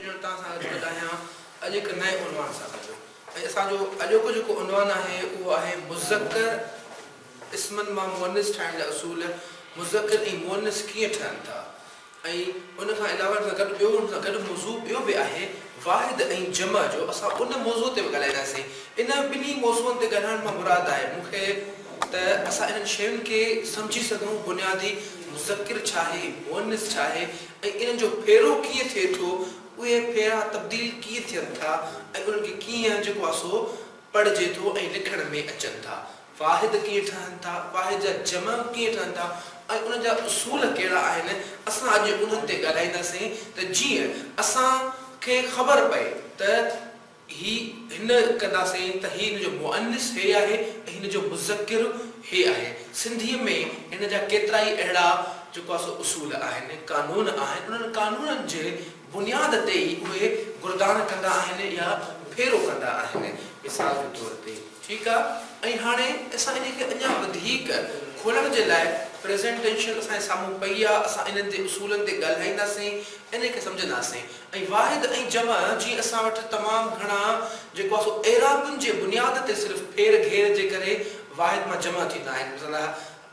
ڄڻ توهان سان اچي ڳالهايان اڄ هڪ نئين عنوان سان گڏ ۽ اسان جو اڄوڪو جيڪو عنوان آهي اهو آهي مذڪر اسمن مان مؤنث ٺاهڻ جا اصول مذڪر ۽ مؤنث ڪيئن ٺهن ٿا ۽ ان کان علاوه ان سان گڏ ٻيو ان سان گڏ موضوع ٻيو به آهي واحد ۽ جمع جو اسان ان موضوع تي به ڳالهائينداسين. انهن ٻنهي موضوعن تي ڳالهائڻ مان مراد آهي مون کي ته اسان انهن شين کي سمجهي سگهون بنيادي مذڪر ڇا آهي مؤنث ڇا آهي ۽ انهن جو ڦيرو ڪيئن ٿئي ٿو اهي ڦيرا تبديل ڪيئن ٿين ٿا ۽ انهن کي ڪيئن جيڪو آهي سو پڙهجي ٿو ۽ لکڻ ۾ اچن ٿا واحد ڪيئن ٺهن ٿا، واحد جا جمع ڪيئن ٺهن ٿا ۽ انهن جا اصول ڪهڙا آهن، اسان اڄ انهن تي ڳالهائينداسين ته جيئن اسان کي خبر پئي ته هي هن ڪنداسين ته هي هن جو مؤنث هي آهي ۽ هن جو مذڪر هي آهي. سنڌيء ۾ هن جا ڪيترائي اهڙا جيڪو آهي سو اصول آهن، قانون آهن، انهن قانونن جي. بنياد تي ئي اهي گردان ڪندا آهن يا ڦيرو ڪندا آهن. مثال جي طور تي ٺيڪ آ ۽ هاڻي اسان انهي کي اڃا وڌيڪ کولڻ جي لاء پريزنٽيشن اسان جي سامهون پئي آ اسان انهن تي اصولن تي ڳالهائينداسين انهي کي سمجهنداسين ۽ واحد ۽ جمع جي اسان وٽ تمام گهڻا جيڪو آ سو اعرابن جي بنياد تي صرف ڦير گهير جي ڪري واحد مان جمع ٿيندا آهن مثلا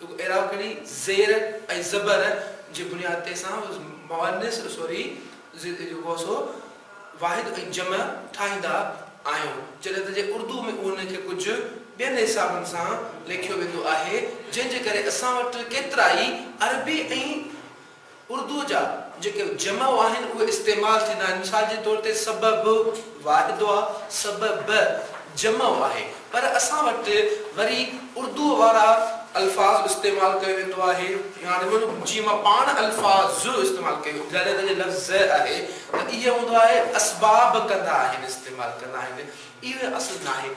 رڳو اهڙا ڪري زير ۽ زبر جي بنياد تي اسان مؤنث سوري جيڪو سو واحد ۽ جمع ٺاهيندا آهيون جڏهن ته جي اردو ۾ ان کي ڪجهه ٻين حسابن سان ليکيو ويندو آهي جنهن جي ڪري اسان وٽ ڪيترائي عربي ۽ اردوء جا جيڪي جمع آهن اهي استعمال ٿيندا آهن، مثال جي طور تي سبب، واحدوء، سببء، جمع آهي، پر اسان وٽ وري اردوء وارا الفاظ استعمال ڪيو ويندو آهي، يا جيئن مان پاڻ الفاظ استعمال ڪيو، جڏهن ته جي لفظ زء آهي ته اهي هوندو آهي اسباب ڪندا آهن، استعمال ڪندا آهن، اهو اصل ناهي.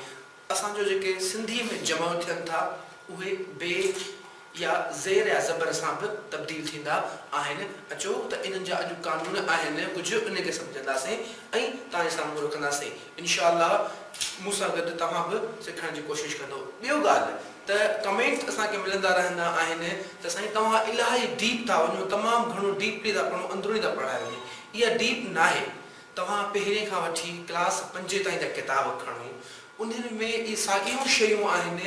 اسان جو جيڪي سنڌيء ۾ جمع ٿين ٿا، اهي بي يا زير يا زبر سان به تبديل ٿيندا آهن. اچو ته انهن جا اڄ قانون آهن، ڪجهه انهي کي سمجهنداسين ۽ توهان جي سامهون رکنداسين. انشاء الله مون سان گڏ توهان به سکڻ جي ڪوشش ڪندو. ٻيو ڳالهه ته ڪمينٽس اسان کي ملندا رهندا آهن ته سائين توهان الاهي ڊيپ ٿا وڃو، تمام گهڻو ڊيپلي ٿا پڙهون، اندروني ٿا پڙهايو وڃي. اها ڊيپ ناهي. توهان پهرين کان وٺي ڪلاس پنجين تائين جا ڪتاب کڻو، انهن ۾ اهي ساڳيون شيون آهن،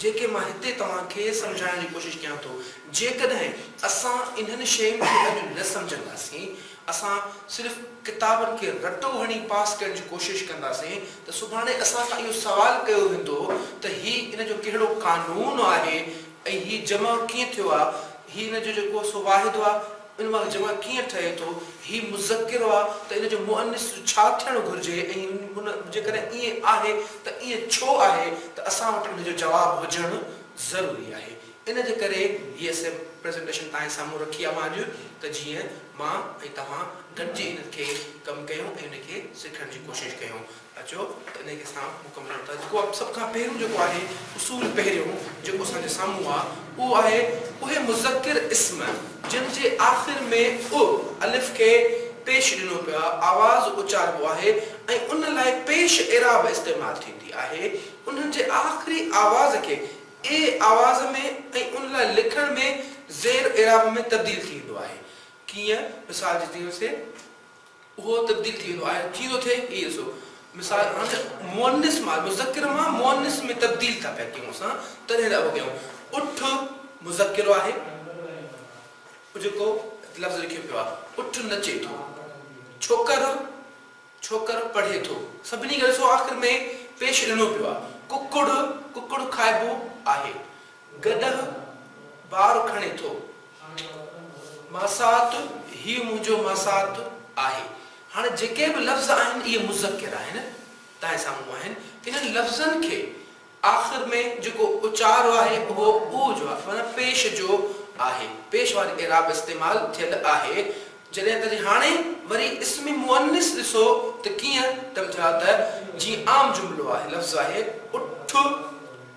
جيڪي مان هتي توهان کي سمجهائڻ جي ڪوشش ڪيان ٿو. جيڪڏهن اسان انهن شين کي اڄ نه سمجهنداسين، اسان صرف ڪتابن کي رٽو هڻي پاس ڪرڻ جي ڪوشش ڪنداسين ته سڀاڻي اسان کان اهو سوال ڪيو ويندو ته هي ان جو ڪهڙو قانون آهي ۽ هي جمع ڪيئن ٿيو آهي، هي ان جو جيڪو سو واحد آهي، ان مان جمع ڪيئن ٺهي ٿو؟ هي مذڪر آ ته ان جو مؤنث جو ڇا ٿيڻ گهرجي ۽ ان جيڪڏهن ائين آهي ته ائين ڇو آهي ته اسان وٽ ان جو جواب هجڻ ضروري آهي. ان جي ڪري هيء سي پريزنٽيشن توهان جي سامهون رکي آ مان اڄ ته جيئن مان ۽ توهان گڏجي ان کي ڪم ڪيون ۽ ان کي سکڻ جي ڪوشش ڪيون. اچو ته انهيء کي اسان مڪمل ڪريون ٿا جيڪو سڀ کان پهريون جيڪو آهي اصول پهريون جيڪو اسان جي سامهون آ اهو آهي اهي مذڪر اسم جن جي آخر ۾ اء الف کي پيش ڏنو پيو آ آواز اچاربو آهي ۽ ان لاء پيش اعراب استعمال ٿيندي آهي انهن جي آخري آواز کي اي آواز ۾ ۽ ان لاء لکڻ ۾ زير اعراب ۾ تبديل ٿي ويندو آهي ڪيئن مثال جي طيور سي اهو تبديل ٿي ويندو آهي جيئن ٿو ٿئي هي ڏسو مثال هاڻي مؤنث مان مذڪر مان مؤنث ۾ تبديل ٿا پيا ڪيون اسان تڏهن لاء اهو ڪيون اٺ مذڪر آهي اهو جيڪو لفظ لکيو پيو آهي اٺ نچي ٿو ڇوڪر ڇوڪر پڙهي ٿو سڀني کي ڏسو آخر ۾ پيش ڏنو پيو آهي ڪڪڙ ڪڪڙ کائبو آهي گڏهه بار کڻي ٿو. ماسات، هيء منهنجو ماسات آهي. هاڻي جيڪي به لفظ آهن اهي مذڪر آهن، تنهن سامهون آهن. انهن لفظن کي آخر ۾ جيڪو اچارو آهي اهو اوء جو آهي معنيٰ پيش جو آهي. پيش واري اعراب استعمال ٿيل آهي. جڏهن ته جي هاڻي وري اسم مؤنث ڏسو ته ڪيئن ته ٻڌايو ته جيئن عام جملو آهي، لفظ آهي، اٺ،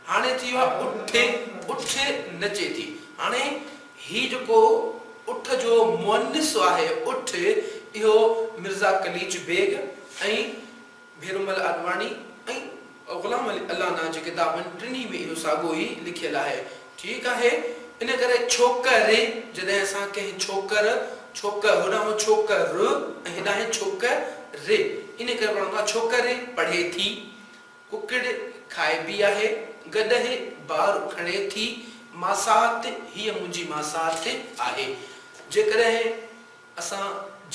هاڻي ٿي ويو آهي اٺ، اٺ نچي ٿي. هاڻي هي جيڪو اٺ جو مؤنث آهي اٺ، اهو مرزا قليچ بيگ ۽ ڀيرومل آڏواڻي ۽ غلام علي الانا جي ڪتابن ٽنهي ۾ اهو ساڳو ئي لکيل آهي. ٺيڪ آهي. ان ڪري ڇوڪر جڏهن اسان ڪنهن ڇوڪر، ڇوڪ، هوڏانهن ڇوڪ ر ۽ هيڏانهن ڇوڪ ري، ان ڪري پڙهندو آهي ڇوڪري پڙهي ٿي. ڪڪڙ کائبي آهي گڏهه بار کڻي ٿي ماسات هيء منهنجي ماسات آهي جيڪڏهن اسان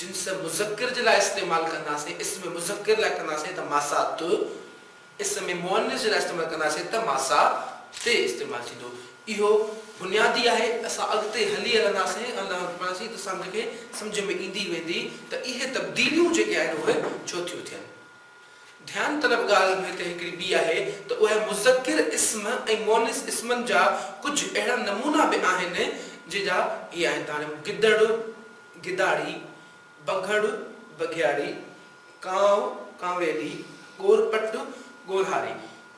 جنس مذڪر جي لاء استعمال ڪنداسين اسم مذڪر لاء ڪنداسين ته ماسات اسم مؤنث جي لاء استعمال ڪنداسين ته ماسات استعمال ٿيندو اهو بنيادي آهي اسان اڳتي هلي هلنداسين ان لاء پڙهنداسين ته سمجهه کي سمجهه ۾ ايندي ويندي ته اهي تبديليون جيڪي آهن اهي ڇو ٿيون ٿين. ڌيان طلب ڳالهه به هتي هڪڙي ٻي آهي ته اهي مذڪر اسم ۽ مؤنث اسمن جا ڪجهه اهڙا نمونا به آهن جن جا هي آهن ته هاڻي گدڙ، گداڙي، بگهڙ، بگهياڙي، ڪانء، ڪانويلي، ڳورپٽ، ڳورهاري.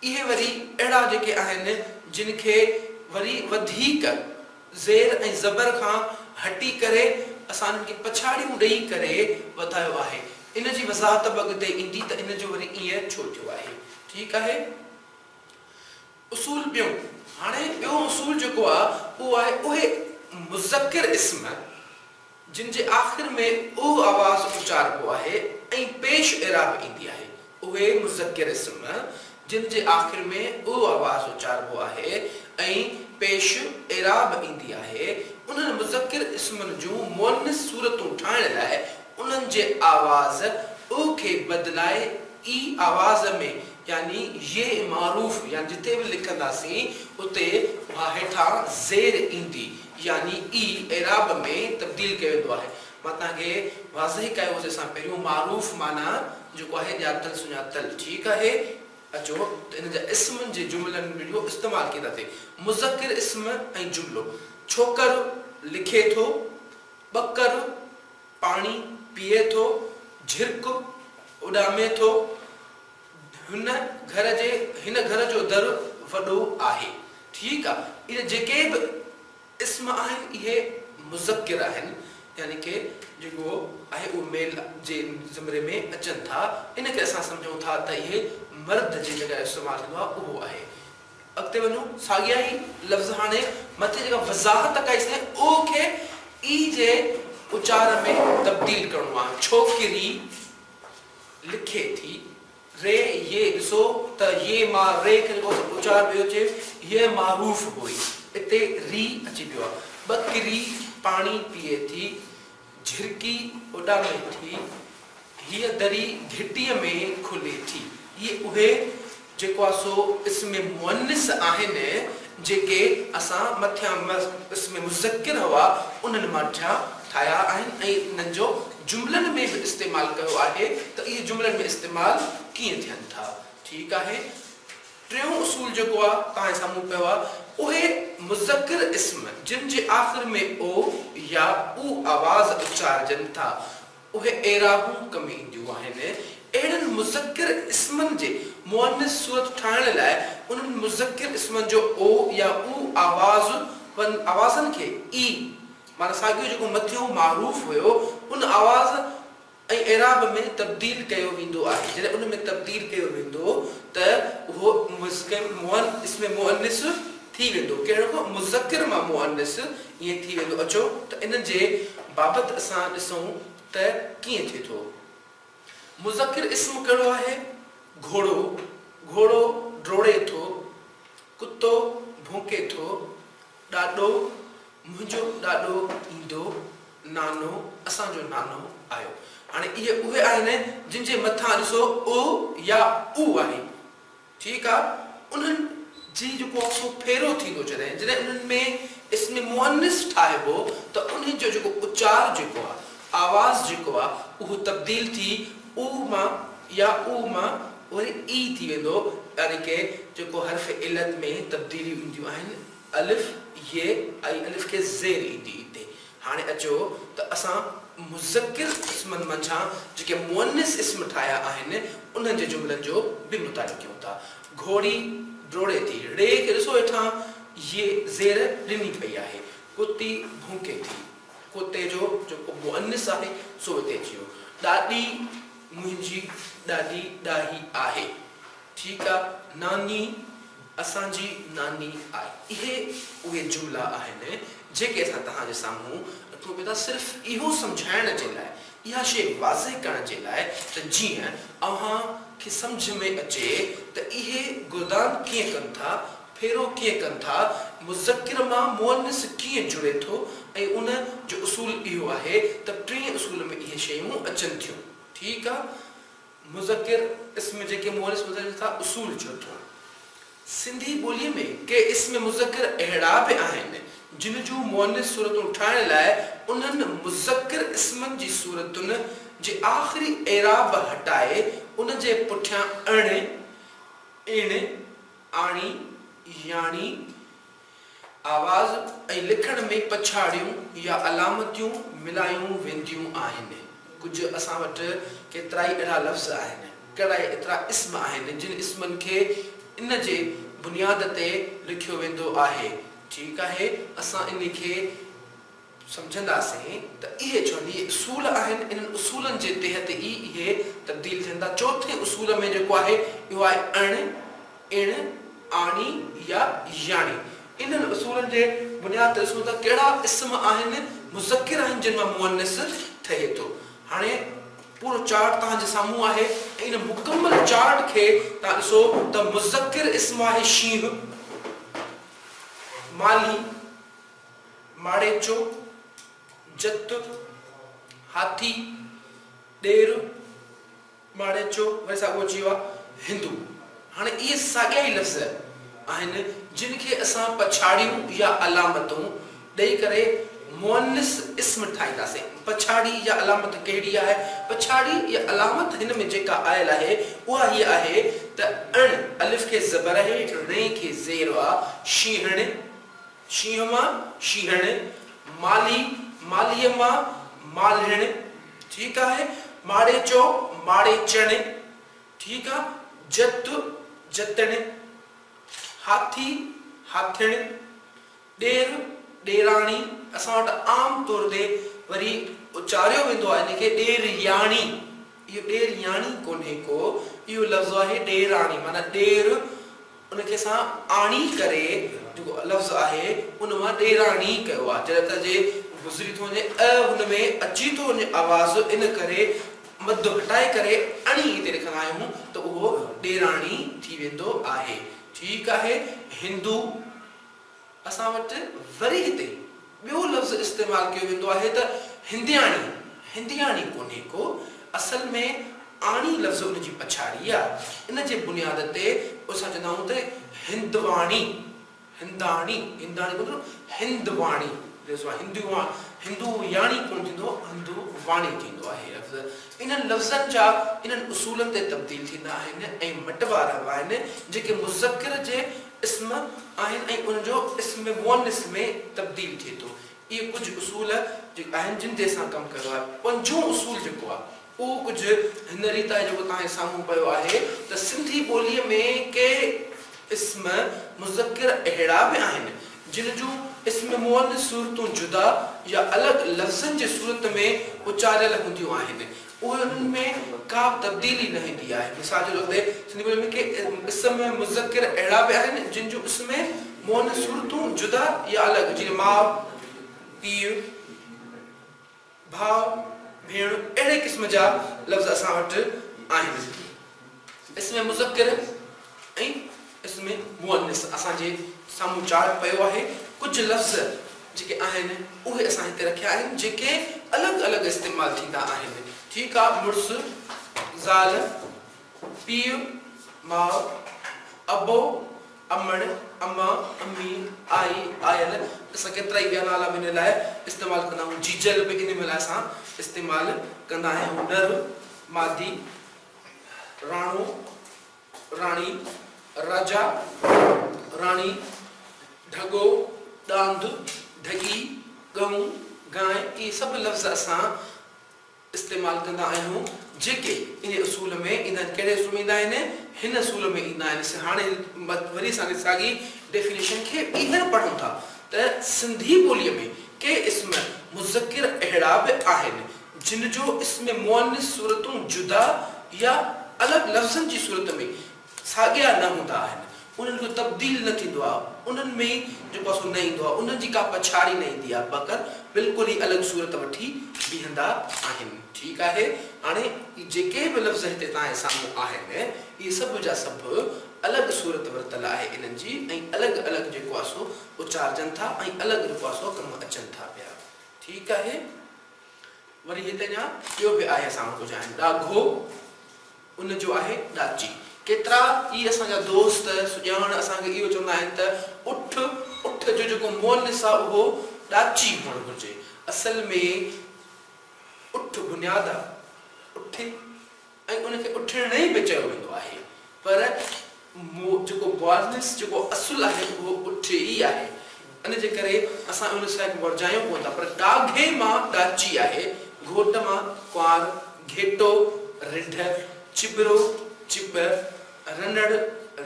اهي وري اهڙا جيڪي آهن جن کي وري وڌيڪ. زير ۽ زبر کان هٽي ڪري اسان انهن کي پڇاڙيون ڏئي ڪري وڌايو آهي. ان جي وضاحت به اڳتي ايندي ته ان جو وري ائين ڇو ٿيو آهي. ٺيڪ آهي. اصول ٻيون، هاڻي ٻيو اصول جيڪو آهي اهو آهي اهي مذڪر اسم، جن جي آخر ۾ اهو آواز اچاربو آهي ۽ پيش اعراب ايندي آهي، اهي مذڪر اسم، جن جي آخر ۾ اهو آواز اچاربو آهي ۽ پيش اعراب ايندي آهي، انهن مذڪر اسمن جون مؤنث صورتون ٺاهڻ لاء انهن جي آواز اء کي بدلائي اي آواز ۾ يعني يئي معروف يعني جتي به لکنداسين اتي اها هيٺان زير ايندي يعني ئي اعراب ۾ تبديل ڪيو ويندو آهي. مان توهان کي واضح ڪيو هو، جنهن سان پهريون معروف معنيٰ جيڪو آهي ڄاتل سڃاتل ٺيڪ آهي. اچو ته ان جا اسم جي جملن ۾ اهو استعمال ڪيئن ٿا ٿئي. مذڪر اسم ۽ جملو، ڇوڪر لکي ٿو، ٻڪر پاڻي پيئي ٿو، جهرڪ اڏامي ٿو. هن گهر جي هن گهر جو در وڏو آهي. ٺيڪ آ اهي جيڪي به اسم آهن اهي مذڪر آهن يعني ڪي جيڪو آهي اهو ميل جي زمري ۾ اچن ٿا ان ڪري اسان سمجهون ٿا ته اهي مرد جي جڳهه استعمال ٿيندو آهي اهو آهي اڳتي وڃون ساڳيا ئي لفظ هاڻي مٿي جيڪا وضاحت ڪئي سين او کي اي جي اچار ۾ تبديل ڪرڻو آهي ڇوڪري. لکي ٿي، ري يي ڏسو ته يي ماء ري کي جيڪو اچار پيو اچي، هيء ماء روف هئي. اتي ري اچي پيو آهي. ٻڪري پاڻي پيئي ٿي، جهرڪي اڏامي ٿي، هيء دري گهٽيء ۾ کلي ٿي. هيء اهي جيڪو آ سو اسم مؤنث آهن جيڪي اسان مٿيان اسم مذڪر هئا انهن مان ڍيا ٺاهيا آهن ۽ انهن جو جملن ۾ به استعمال ڪيو آهي ته اهي جملن ۾ استعمال ڪيئن ٿين ٿا ٺيڪ آهي ٽيون اصول جيڪو آ توهان جي سامهون پيو آ اهي مذڪر اسم جن جي آخر ۾ او يا او آواز اچارجن ٿا اهي اعرابون ڪم اينديون آهن. اهڙن مذڪر اسمن جي مؤنث صورت ٺاهڻ لاء انهن مذڪر اسمن جو او يا او آوازن آوازن کي اي معنيٰ ساڳيو جيڪو مٿيون معروف هيو ان آواز ۽ اعراب ۾ تبديل ڪيو ويندو آهي. جڏهن ان ۾ تبديل ڪيو ويندو ته اهو اسم مؤنث ٿي ويندو ڪهڙو ڪو مذڪر مان مؤنث ائين ٿي ويندو اچو ته ان جي بابت اسان ڏسون ته ڪيئن ٿئي ٿو مذڪر اسم ڪهڙو آهي گهوڙو گهوڙو ڊوڙي ٿو ڪتو ڀونڪي ٿو ڏاڏو منهنجو ڏاڏو ايندو نانو اسان جو نانو آيو هاڻي اهي اهي آهن جن جي مٿان ڏسو ء يا او آهي. ٺيڪ آ انهن جي جيڪو اڪسو ڦيرو ٿيندو جڏهن جڏهن انهن ۾ اسم مؤنث ٺاهبو ته انهن جو جيڪو اچار جيڪو آ آواز جيڪو آ اهو تبديل ٿي اوء مان يا اوء مان وري اي ٿي ويندو يعني ڪي جيڪو حرف علت ۾ تبديليون اينديون آهن الف ي ۽ الف کي زير ايندي اتي هاڻي اچو ته اسان مذڪر اسمن منجهان جيڪي مؤنث اسم ٺاهيا آهن، انهن جي جملن جو به مطالعو ڪيون ٿا. گهوڙي ڊوڙي ٿي. ڙي کي ڏسو هيٺان ي زير ڏني پئي آهي. ڪتي ڀونڪي ٿي. ڪتي جو جيڪو مؤنث آهي سو هتي اچي ويو. ڏاڏي منهنجي ڏاڏي ڏاهي آهي. ٺيڪ آ. ناني. اسان جي ناني آء. اهي اهي جملا آهن جيڪي اسان توهان جي سامهون رکون پيا ٿا صرف اهو سمجهائڻ جي لاء، اها شيء واضح ڪرڻ جي لاء ته جيئن اوهان کي سمجهه ۾ اچي ته اهي گردان ڪيئن ڪن ٿا، ڦيرو ڪيئن ڪن ٿا، مذڪر مان مؤنث ڪيئن جڙي ٿو ۽ ان جو اصول اهو آهي ته ٽئين اصول ۾ اهي شيون اچن ٿيون. ٺيڪ آ. مذڪر اسم جيڪي مؤنث ٻڌائجن ٿا، اصول چوٿون، سنڌي ٻوليء ۾ ڪي اسم مذڪر اهڙا به آهن، جن جون مؤنث صورتون ٺاهڻ لاء انهن مذڪر اسمن جي صورتن جي آخري اعراب هٽائي ان جي پٺيان اڻ، اڻ، آڻي، ياڻي، آواز ۽ لکڻ ۾ پڇاڙيون يا علامتيون ملايون وينديون آهن. ڪجهه اسان وٽ ڪيترائي اهڙا لفظ آهن، ڪهڙائي ايترا اسم آهن، جن اسمن کي ان جي بنياد تي لکيو ويندو آهي. ٺيڪ آهي، اسان انهي کي. سمجهنداسين ته اهي چوويهه اصول آهن، انهن اصولن جي تحت ئي اهي تبديل ٿين ٿا. چوٿين اصول ۾ جيڪو آهي اهو آهي اڻ، اڻ، آڻي يا ياڻي. انهن اصولن جي بنياد تي ڏسون ته ڪهڙا اسم آهن مذڪر آهن جن مان مؤنث ٺهي ٿو. هاڻي پورو چارٽ توهان جي سامهون آهي ۽ ان مڪمل چارٽ کي توهان ڏسو ته مذڪر اسم آهي شينهن، مالهي، ماڙيچو، جت، هاٿي، ڏير، ماڙيچو وري ساڳيو اچي ويو آهي هندو. هاڻي اهي ساڳيا ئي لفظ آهن جن کي اسان پڇاڙيون يا علامتون ڏئي ڪري مؤنث اسم ٺاهينداسين. پڇاڙي يا علامت ڪهڙي آهي؟ پڇاڙي يا علامت هن ۾ جيڪا آيل آهي اها هيء آهي ته اڻ، الف کي زبر آهي، ڙي کي زير آ، شينهڻ، شينهن مان شينهڻ، مالهي، مالهيء مان مالهڻ، ٺيڪ آهي، ماڙيچو، ماڙيچڻ، ٺيڪ آ، جت، جتڻ، هاٿي، هاٿڻ، ڏير، ڏيراڻي، اسان وٽ عام طور تي وري اچاريو ويندو آهي ان کي ڏيرياڻي، اهو ڏيرياڻي ڪونهي ڪو، اهو لفظ آهي ڏيراڻي معنيٰ ڏير، ان کي سان آڻي ڪري جيڪو لفظ آهي ان مان ڏيراڻي ڪيو آهي جڏهن ته جي گذري ٿو وڃي ء هن ۾ اچي ٿو وڃي آواز ان ڪري مد گهٽائي ڪري اڻي هتي لکندا آهيون ته اهو ڏيراڻي ٿي ويندو آهي ٺيڪ آهي هندو. اسان وٽ وري هتي ٻيو لفظ استعمال ڪيو ويندو آهي ته هندياڻي، هندياڻي ڪونهي ڪو، اصل ۾ آڻي لفظ ان جي پڇاڙي آ، ان جي بنياد تي اسان چوندا آهيون ته هندواڻي، هنداڻي، هنداڻي ڪونه ٿيندو، هندواڻي، هندو ياڻي ڪونه ٿيندو، هندو واڻي ٿيندو آهي لفظ، انهن لفظن جا انهن اصولن تي تبديل ٿيندا آهن ۽ مٽ واربا آهن، جيڪي مذڪر جي اسم آهن ۽ ان جو اسم مؤنث ۾ تبديل ٿئي ٿو. اهي ڪجهه اصول جي آهن جن تي اسان ڪم ڪيو آهي. پنجون اصول جيڪو آهي اهو ڪجهه هن ريت آهي جيڪو توهان جي سامهون پيو آهي ته سنڌي ٻوليء ۾ ڪي اسم مذڪر اهڙا به آهن جن جون اسم مؤنث صورتون جدا يا الڳ لفظن جي صورت ۾ اچاريل هونديون آهن انهن ۾ ڪا به تبديلي نه ايندي آهي. مثال جي طور تي سنڌي ٻوليء ۾ ڪي اسم مذڪر اهڙا به آهن، جن جون اسم مؤنث صورتون جدا يا الڳ، جيئن ماء، پيء، ڀاء، ڀيڻ، اهڙي قسم جا لفظ اسان وٽ آهن. اسم مذڪر ۽ اسم مؤنث اسان جي سامهون چارٽ پيو آهي. ڪجهه لفظ جيڪي آهن اهي اسان هتي رکيا آهن جيڪي الڳ الڳ استعمال ٿيندا آهن ٺيڪ آ مڙس، زال، پيء، ماء، ابو، امڙ، اما، امي، آئي، آيل اسان ڪيترائي ٻيا نالا به ان لاء استعمال ڪندا آهيون جيجل به ان لاء اسان استعمال ڪندا آهيون نر، مادي، راڻو، راڻي، راجا، راڻي، ڍڳو، ڏاند، ڍڳي، ڳئون، گانء اهي سڀ لفظ اسان استعمال ڪندا آهيون جيڪي انهي اصول ۾ ايندا آهن. ڪهڙي اصول ۾ ايندا آهن؟ هن اصول ۾ ايندا آهن. اسين هاڻي وري اسان کي ساڳي ڊيفينيشن کي ٻيهر پڙهون ٿا ته سنڌي ٻوليء ۾ ڪي اسم مذڪر اهڙا به آهن جن جو اسم مؤنث صورتون جدا يا الڳ لفظن جي صورت ۾ ساڳيا نه هوندا آهن، انهن جو تبديل نه ٿيندو آهي، انهن ۾ جو پاسو نه ايندو آهي، انهن جي ڪا پڇاڙي نه ايندي آهي، بقر بلڪل ئي الڳ صورت وٺي بيهندا آهن. ٺيڪ آهي، هاڻي اهي جيڪي به لفظ هتي توهان جي سامهون آهن، اهي سڀ جا سڀ الڳ صورت ورتل آهي انهن جي ۽ الڳ الڳ جيڪو آهي سو اچارجن ٿا ۽ الڳ جيڪو آهي سو ڪم اچن ٿا پيا. ٺيڪ آهي. وري هت اڃا ٻيو به آهي اسان وٽ ڪجهه آهن ڏاگهو ان جو آهي ڏاچي ڪيترا ئي اسان جا دوست سڄاڻ اسان کي اهو چوندا آهن ته اٺ اٺ جو جيڪو مؤنث آهي اهو ڏاچي هئڻ گهرجي اصل ۾ اٺ بنياد آهي اٺي ۽ ان کي اٺرڻي به چيو ويندو آهي پر مو جيڪو مؤنث جيڪو اصل آهي اهو اٺ ئي آهي ان جي ڪري اسان اهو لسائڪ ورجايون ڪون ٿا پر ڏاگهي مان ڏاچي آهي گهوٽ مان ڪنوار گهيٽو رنڍ چٻرو چٻ رنڙ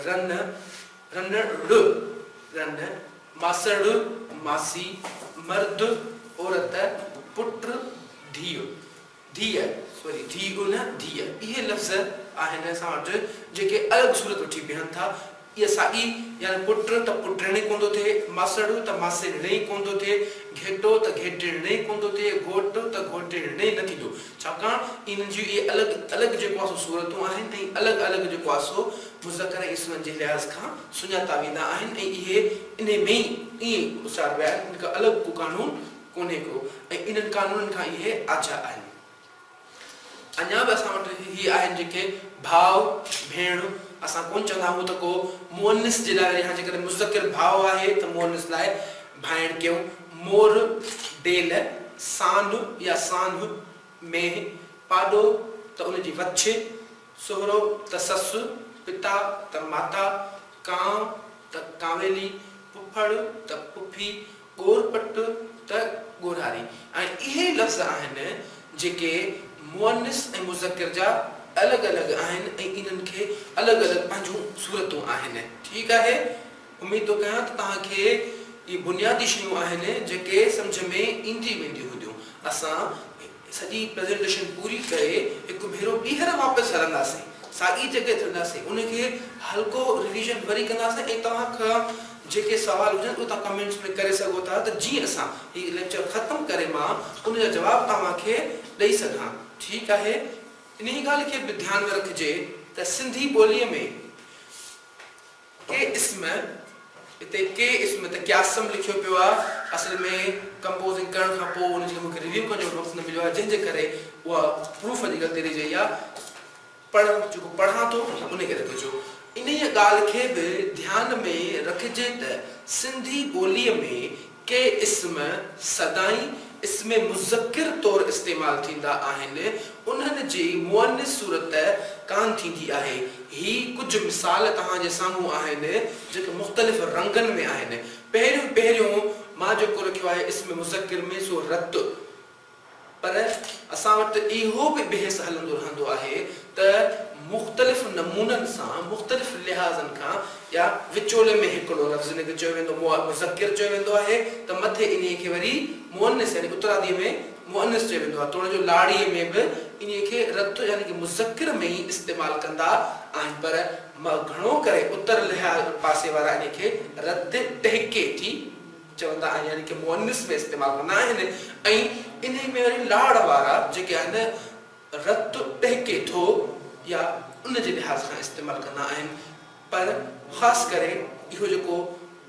رن رنڙ رنڊ ماسڙ ماسي مرد عورت پٽ ڌيء. ڌيء، سوري ڌيء نه ڌيء، اهي لفظ آهن اسان وٽ جيڪي الڳ صورت وٺي بيهن ٿا، اها ساڳي يعني پٽ ته پٽڻ ئي ڪون ٿو ٿئي، ماسڙو ته ماسيڙڻ ئي ڪون ٿو ٿئي، گهيٽو ته گهيٽيڻ ئي ڪون ٿو ٿئي، گهوٽ ته گهوٽيڻ ئي نه ٿيندو، ڇاڪاڻ انهن جون اهي الڳ الڳ جيڪو آهي سو صورتون آهن ۽ الڳ الڳ جيڪو آهي سو مذڪر ۽ اسمن جي لحاظ کان سڃاتا ويندا آهن ۽ اهي انهي ۾ ئي ائين اچاربيا آهن، ان کان الڳ ڪو قانون ڪونهي ڪو ۽ انهن قانونن کان اهي آجيا آهن. اڃا به اسان وٽ اهي آهن جيڪي ڀاء، ڀيڻ اسان ڪونه چوندا آهيون ته ڪو مؤنث جي لاء يا جيڪڏهن مذڪر ڀاء آهي ته مؤنث لاء ڀائڻ ڪيون، مور، ڊيل، سانو يا سانهه، مينهن، پاڏو ته ان جي وڇ، سهرو ته سس، پتا ته ماتا، ڪانء ته ڪانويلي، پڦڙ ته پڦي، ڳور پٽ ته ڳورهاري ۽ اهي لفظ آهن جيڪي مؤنث ۽ مذڪر جا الڳ الڳ آهن ۽ انهن کي الڳ الڳ پنهنجون صورتون آهن. ٺيڪ آهي. اميد ٿو ڪيان ته توهان کي اهي بنيادي شيون آهن جيڪي سمجهه ۾ ايندي وينديون هونديون. اسان. سڄي پريزنٽيشن پوري ڪري هڪ ڀيرو ٻيهر واپس هلنداسين ساڳي جڳهه تي هونداسين ان کي هلڪو ريويزن وري ڪنداسين ۽ توهان کان جيڪي سوال هجن اهي توهان ڪمينٽس ۾ ڪري سگهو ٿا ته جيئن اسان هي ليڪچر ختم ڪري مان ان جا جواب توهان کي ڏئي سگهان ٺيڪ آهي انهي ڳالهه کي به ڌيان ۾ رکجي ته سنڌي ٻولي ۾ ڪي اسم اتي ڪي اسم ته ڪياسم لکيو پيو آ اصل ۾ ڪمپوزنگ ڪرڻ کان پو ان جي مون کي ريويو ڪرڻ جو وقت نه مليو آ جنهن جي ڪري اها پروف جي غلطي رهي جئي آ پر جيڪو پڙهان ٿو ان کي لڳو جو انهيء ڳالهه کي به ڌيان ۾ رکجي ته سنڌي ٻوليء ۾ ڪي اسم سدائين اسم مذڪر طور استعمال ٿيندا آهن، انهن جي مؤنث صورت ڪانه ٿيندي آهي. هي ڪجهه مثال توهان جي سامهون آهن، جيڪي مختلف رنگن ۾ آهن. پهريون پهريون مان جيڪو لکيو آهي اسم مذڪر ۾ سو رت. پر اسان وٽ اهو به بحث هلندو رهندو آهي ته مختلف نمونن سان مختلف لحاظن کان يا وچولي ۾ هڪڙو لفظ جنهن کي چيو ويندو مذڪر چيو ويندو آهي ته مٿي انهي کي وري مؤنث يعني اترادي ۾ مؤنث چيو ويندو آهي توڙي جو لاڙي ۾ به انهي کي رٿ يعني ڪه مذڪر ۾ ئي استعمال ڪندا آهن پر گهڻو ڪري اتر لحاظ پاسي وارا انهي کي رٿ ٽهڪي ٿي چوندا آهن يعني کي مؤنث ۾ استعمال ڪندا آهن ۽ انهي ۾ وري لاڙ وارا جيڪي آهن رت ٽهڪي ٿو يا ان جي لحاظ کان استعمال ڪندا آهن پر خاص ڪري اهو جيڪو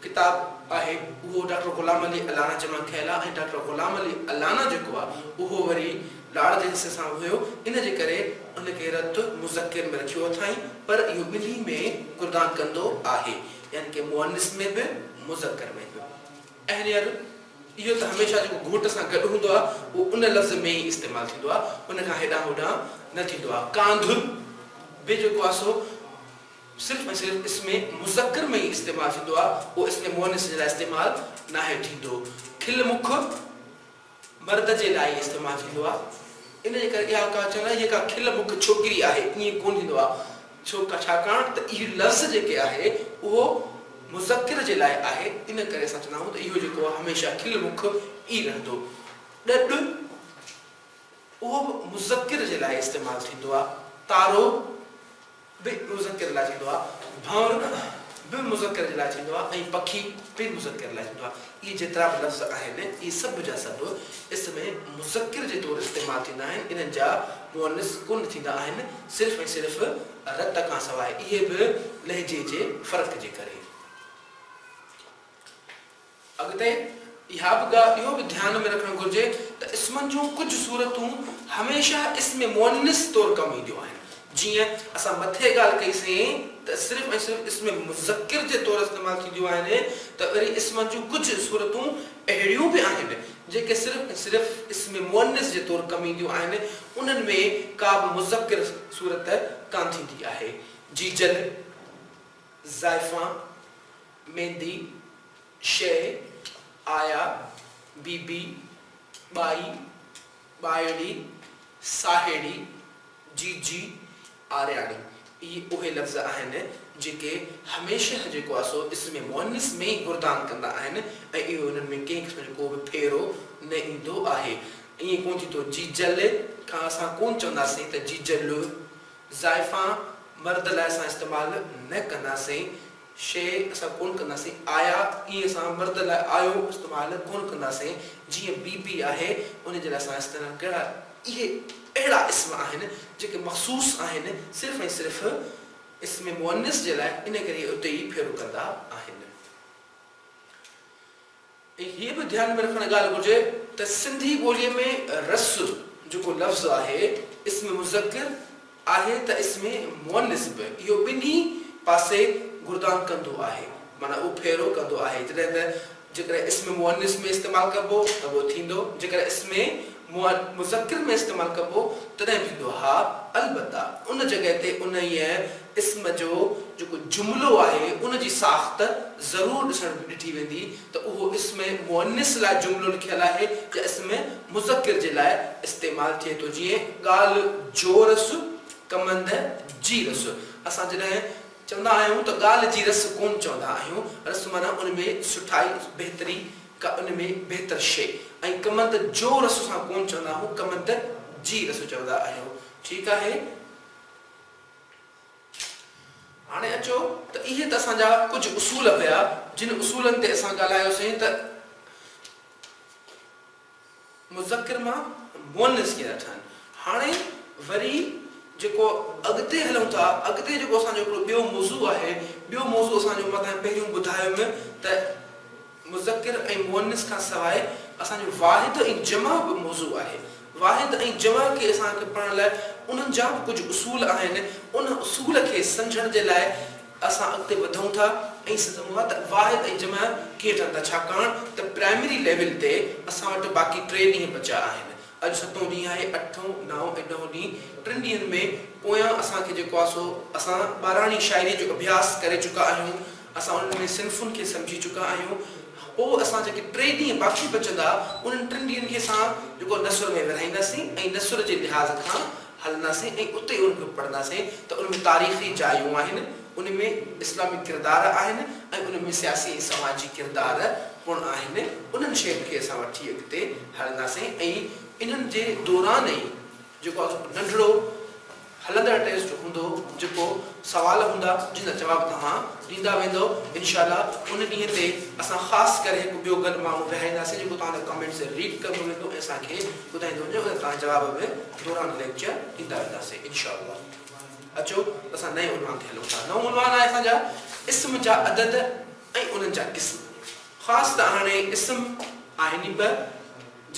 ڪتاب آهي اهو ڊاڪٽر غلام علي الانا جي مان کنيل آهي ۽ ڊاڪٽر غلام علي الانا جيڪو آهي اهو وري لاڙ جي حصي سان هيو ان جي ڪري ان کي رت مذڪر ۾ رکيو اٿائين پر اهو ٻنهي ۾ گردان ڪندو آهي. يعني ڪي مؤنث ۾ به مذڪر ۾ به. اهريئر اهو ته هميشه جيڪو گهوٽ سان گڏ هوندو آهي اهو ان لفظ ۾ ئي استعمال ٿيندو آهي ان کان هيڏانهن هوڏانهن نه ٿيندو آهي. ڪانڌر به جيڪو آهي سو صرف ۽ صرف اسم مذڪر ۾ ئي استعمال ٿيندو آهي اهو اسم مؤنث جي لاء استعمال ناهي ٿيندو. کل مک مرد جي لاء ئي استعمال ٿيندو آ ان جي ڪري اها ڪا چون ٿا هيء ڪا کل مک ڇوڪري آهي ائين ڪونه ٿيندو آ ڇو ڇاڪاڻ ته اهي لفظ جيڪي آهي اهو مذڪر جي لاء آهي ان ڪري اسان چوندا آهيون ته اهو جيڪو آ هميشه کل مک ئي رهندو ڏڏ اهو به مذڪر جي لاء استعمال ٿيندو آ تارو. به مذڪر لاء ٿيندو آهي، ڀؤن به مذڪر جي لاء ٿيندو آهي ۽ پکي به مذڪر لاء ٿيندو آهي. اهي جيترا به لفظ آهن، اهي سڀ جا سڀ اسم مذڪر جي طور استعمال ٿيندا آهن، انهن جا مؤنث ڪونه ٿيندا آهن، صرف ۽ صرف رت کان سواء، اهي به لهجي جي فرق جي ڪري. اڳتي اها به ڳالهه اهو به ڌيان ۾ رکڻ گهرجي ته اسمن جون ڪجهه صورتون هميشه اسم مؤنث طور ڪم اينديون آهن، جيئن اسان مٿي ڳالهه ڪئي سين ته صرف ۽ صرف اسم مذڪر جي طور استعمال ٿينديون آهن ته وري اسمن جون ڪجهه صورتون اهڙيون به آهن جيڪي صرف ۽ صرف اسم مؤنث جي طور ڪم اينديون آهن انهن ۾ ڪابه مذڪر صورت ڪانه ٿيندي آهي جيجل، زائفان. ميندي شيء آيا، بيبي، ٻائي، ٻائڙي، ساهيڙي، جيجي، آرياڻي اهي اهي لفظ آهن جيڪي هميشه جيڪو آهي سو اسم مؤنث ۾ ئي گردان ڪندا آهن ۽ اهو انهن ۾ ڪنهن قسم جو ڪو به ڦيرو نه ايندو آهي. ائين ڪونه ٿيندو جيجل کان اسان ڪونه چونداسين ته جيجل، زائفان مرد لاء اسان استعمال نه ڪنداسين. شيء اسان ڪونه ڪنداسين، آيا ائين سان مرد لاء آيو استعمال ڪونه ڪنداسين، جيئن بي بي آهي ان جي لاء اسان استعمال ڪيا اهي اهڙا اسم آهن جيڪي مخصوص آهن صرف ۽ صرف اسم مؤنث جي لاء ان ڪري اهي اتي ئي ڦيرو ڪندا آهن. ۽ هيء به ڌيان ۾ رکڻ ڳالهه گهرجي ته سنڌي ٻوليء ۾ رس جيڪو لفظ آهي اسم مذڪر آهي ته اسم مؤنث به اهو ٻنهي پاسي گردان ڪندو آهي معنيٰ اهو ڦيرو ڪندو آهي جڏهن ته جيڪڏهن اسم مؤنث ۾ استعمال ڪبو ته اهو ٿيندو جيڪڏهن اسم مؤد مذڪر ۾ استعمال ڪبو تڏهن ٿيندو ها البته ان جڳهه تي انهيء اسم جو جيڪو جملو آهي ان جي ساخت ضرور ڏسڻ ڏٺي ويندي ته اهو اسم مؤنث لاء جملو لکيل آهي يا اسم مذڪر جي لاء استعمال ٿئي ٿو جيئن ڳالهه جو رس ڪمند جي رس اسان جڏهن چوندا آهيون ته ڳالهه جي رس ڪون چوندا آهيون رس معنيٰ ان ۾ سٺائي بهتري ڪا ان ۾ بهتر شيء ۽ ڪمند جو رس سان ڪونه چوندا آهون، ڪمند جي رس چوندا آهيو. ٺيڪ آهي. هاڻي اچو ته اهي ته اسان جا ڪجهه اصول هيا، جن اصولن تي اسان ڳالهايوسين ته. مذڪر مان مؤنث ڪيئن ٿا ٺهن. هاڻي وري جيڪو اڳتي هلون ٿا، اڳتي جيڪو اسان جو هڪڙو ٻيو موضوع آهي، ٻيو موضوع اسان جو مان تنهن پهريون ٻڌايم ته مذڪر ۽ مؤنث کان سواء اسان جو واحد ۽ جمع به موضوع آهي. واحد ۽ جمع کي اسان کي پڙهڻ لاء انهن جا به ڪجهه اصول آهن، ان اصول کي سمجهڻ جي لاء، اسان اڳتي وڌون ٿا ۽ سڌو هئا ته واحد ۽ جمع ڪيئن ٺهن ٿا ڇاڪاڻ ته پرائمري ليول تي اسان وٽ باقي ٽي ڏينهن بچيا آهن اڄ ستون ڏينهن آهي اٺون نائون ۽ ڏهون ڏينهن ٽن ڏينهن ۾ پويان اسان کي جيڪو آهي سو اسان ٻاراڻي شاعري جو اڀياس ڪري چڪا آهيون اسان انهن ۾ صنفن کي سمجهي چڪا آهيون پوء اسان جيڪي ٽي ڏينهن باقي بچندا انهن ٽن ڏينهن کي اسان جيڪو نثر ۾ ورهائينداسين ۽ نثر جي لحاظ کان هلنداسين ۽ اتي ان کي پڙهنداسين ته ان ۾ تاريخي جايون آهن، ان ۾ اسلامي ڪردار آهن ۽ ان ۾ سياسي ۽ سماجي ڪردار پڻ آهن، انهن شين کي اسان وٺي اڳتي هلنداسين ۽ انهن جي دوران ئي جيڪو ننڍڙو هلندڙ ٽيسٽ هوندو جيڪو سوال هوندا جن جا جواب توهان ڏيندا ويندؤ انشاء الله ان ڏينهن تي اسان خاص ڪري هڪ ٻيو گڏ ماڻهو ويهارينداسين جيڪو توهان جا ڪمينٽس ريڊ ڪندو ويندو ۽ اسان کي ٻڌائيندو ويندو ۽ توهان جا جواب به دوران ليڪچر ڏيندا وينداسين انشاء الله اچو اسان نئين عنوان تي هلون ٿا نئون عنوان آهي اسان جا اسم جا عدد ۽ انهن جا قسم خاص ته هاڻي اسم آهن ئي ٻه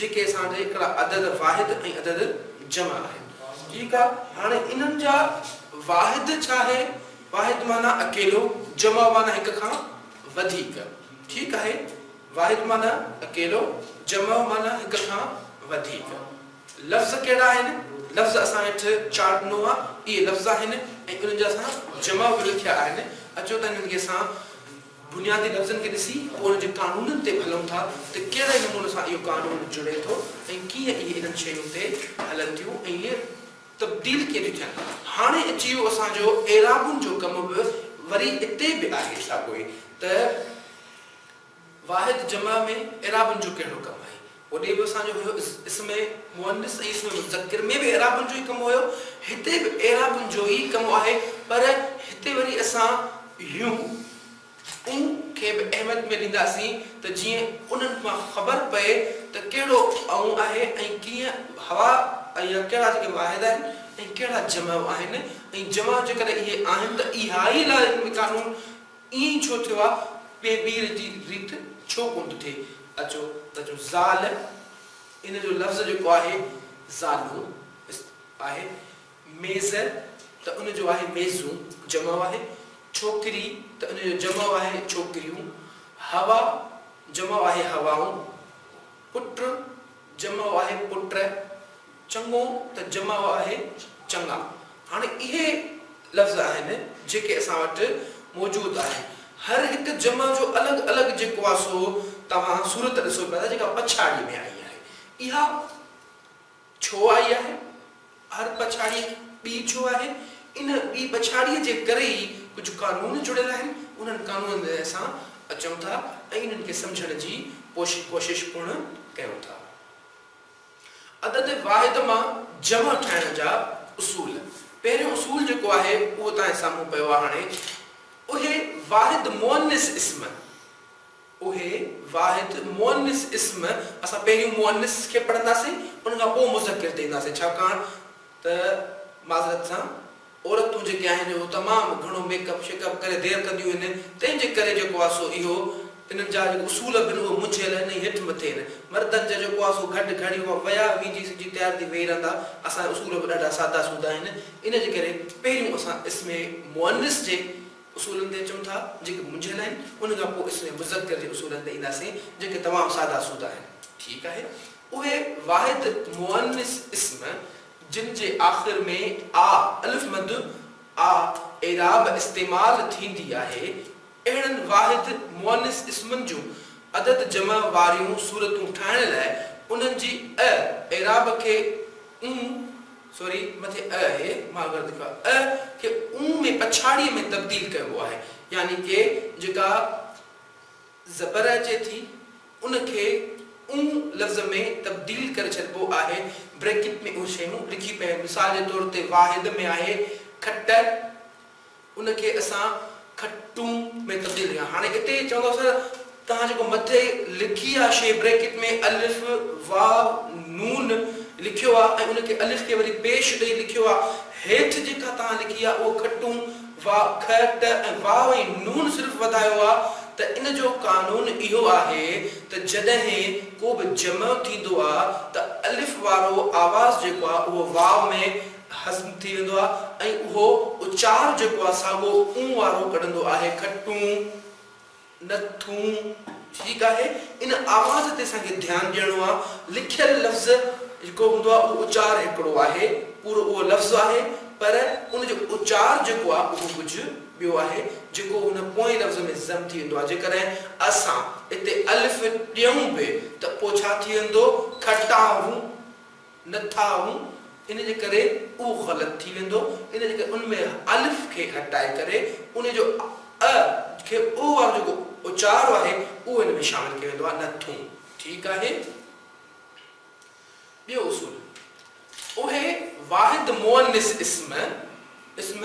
جيڪي اسان جا هڪڙا عدد واحد ۽ عدد جمع آهن ٺيڪ آهي هاڻي انهن جا واحد ڇا آهي واحد معنيٰ اڪيلو جمع معنيٰ هڪ کان وڌيڪ ٺيڪ آهي واحد معنيٰ اڪيلو جمع معنيٰ هڪ کان وڌيڪ لفظ ڪهڙا آهن؟ لفظ اسان هيٺ چار ڏنو آ، اهي لفظ آهن ۽ انهن جا اسان جمع به لکيا آهن. اچو ته انهن کي اسان بنيادي لفظن کي ڏسي پوء انهن جي قانونن تي ڀلون ٿا ته ڪهڙي نموني سان اهو قانون جڙي ٿو ۽ ڪيئن اهي انهن شين تي هلن ٿيون ۽ اهي تبديل ڪيئن ٿيون ٿين. هاڻي اچي ويو اسان جو اعرابن جو ڪم به وري اتي به آهي ساڳيو ئي ته. واحد جمع ۾ اعرابن جو ڪهڙو ڪم آهي؟ هوڏي به اسان جو هيو اسم مؤنث ۽ اسم مذڪر ۾ به اعرابن جو ئي ڪم هيو، هتي به اعرابن جو ئي ڪم آهي پر هتي وري اسان يون، اون کي به اهميت ۾ ڏينداسين ته جيئن انهن مان خبر پئي ته ڪهڙو اون آهي ۽ ڪيئن هوا يا ڪهڙا جيڪي واحد آهن ۽ ڪهڙا جمع آهن ۽ جمع جيڪڏهن اهي آهن ته اهائي لاء قانون ائين ڇو ٿيو آ ٻي ٻير جي ريت ڇو ڪون ٿو ٿئي اچو ته جو زال ان جو لفظ جيڪو آهي زالون آهي ميز ته ان جو آهي ميزون جمع آهي ڇوڪري ته ان جو جمع آهي ڇوڪريون هوا جمع آهي هوائون. پٽ جمع آهي پٽ، چڱو ته جمع آهي چڱا. هاڻي اهي لفظ آهن جيڪي اسان وٽ موجود آهي. هر هڪ جمع جو الڳ الڳ جيڪو آهي سو توهان صورت ڏسو پيا ٿا جيڪا پڇاڙيء ۾ آئي آهي. اها. ڇو آئي آهي؟ هر پڇاڙي ٻي ڇو آهي؟ ان ٻي پڇاڙيء جي ڪري ئي ڪجهه قانون جڙيل آهن. انهن قانونن تي اسان اچون ٿا ۽ انهن کي سمجهڻ جي ڪوشش پڻ ڪيون ٿا. عدد واحد مان جمع ٺاهڻ جا اصول. پهريون اصول جيڪو آهي، اهو توهان جي سامهون پيو آهي هاڻي. اهي واحد مؤنث اسم. اهي واحد مؤنث اسم اسان پهريون مؤنث کي پڙهنداسين ان کان پوء مذڪر تي اينداسين ڇاڪاڻ ته معذرت سان عورتون جيڪي آهن اهو تمام گهڻو ميڪ اپ شيڪ اپ ڪري دير ڪنديون هن تنهن جي ڪري جيڪو آهي سو اهو انهن جا جيڪو اصول بن اهي منجهيل آهن ۽ هيٺ مٿي آهن مردن جا جيڪو آهي سو گهٽ گهڻي اها ويا ويجهي سجي تيار ٿي ويهي رهندا اسان جا اصول به ڏاڍا سادا سودا آهن ان جي ڪري پهريون اسان اسم مؤنث جي اصولن تي اچون ٿا، جيڪي منجهيل آهن، ان کان پوء اسم مذڪر جي اصولن تي اينداسين، جيڪي تمام سادا سودا آهن. ٺيڪ آهي، اهي واحد مؤنث اسم، جن جي آخر ۾ آء الف مد آء اعراب استعمال ٿيندي آهي، اهڙن واحد مؤنث اسمن جون عدد جمع واريون صورتون ٺاهڻ لاء انهن جي اء اعراب کي اون، سوري، مٿي ء آهي، مان غلط لکيو آهي، ء کي اون ۾ پڇاڙيء ۾ تبديل ڪبو آهي، يعني ڪي جيڪا زبر اچي ٿي، ان کي اون لفظ ۾ تبديل ڪري ڇڏبو آهي، بريڪٽ ۾ اهي شيون لکي پيون آهن، مثال جي طور تي واحد ۾ آهي، کٽ. ان کي اسان کٽون ۾ تبديل ڪيون هاڻي اتي چوندو سر توهان جيڪو مٿي لکي آ شي بريڪٽ ۾ الف واو نون لکيو آ ۽ ان کي الف کي وري پيش ڏئي لکيو آ هيٺ جيڪا توهان لکي آ اهو کٽون واء کء ٽ ۽ واء ۽ نون صرف وڌايو آ ته ان جو قانون اهو آهي ته جڏهن ڪو به جمع ٿيندو آ ته الف وارو آواز جيڪو آ اهو واء ۾ هضم ٿي ويندو آهي ۽ اهو اچار جيڪو آهي سا اهو اون وارو ڪڍندو آهي، کٽون، نه ٿون، ٺيڪ آهي، ان آواز تي اسان کي ڌيان ڏيڻو آهي، لکيل لفظ جيڪو هوندو آهي اهو اچار هڪڙو آهي، پورو اهو لفظ آهي پر ان جو اچار جيڪو آهي اهو ڪجهه ٻيو آهي جيڪو ان پوئين لفظ ۾ ضم ٿي ويندو آهي، جيڪڏهن اسان اتي الف ڏيون به ته پوء ڇا ٿي ويندو، کٽاهون. نه ٿا آهون ان جي ڪري اهو غلط ٿي ويندو ان جي ڪري ان ۾ الف کي هٽائي ڪري ان جو ء کي او وارو جيڪو اچارو آهي اهو ان ۾ شامل ڪيو ويندو آهي نه ٿون ٺيڪ آهي ٻيو اصول اهي واحد مؤنث اسم. اسم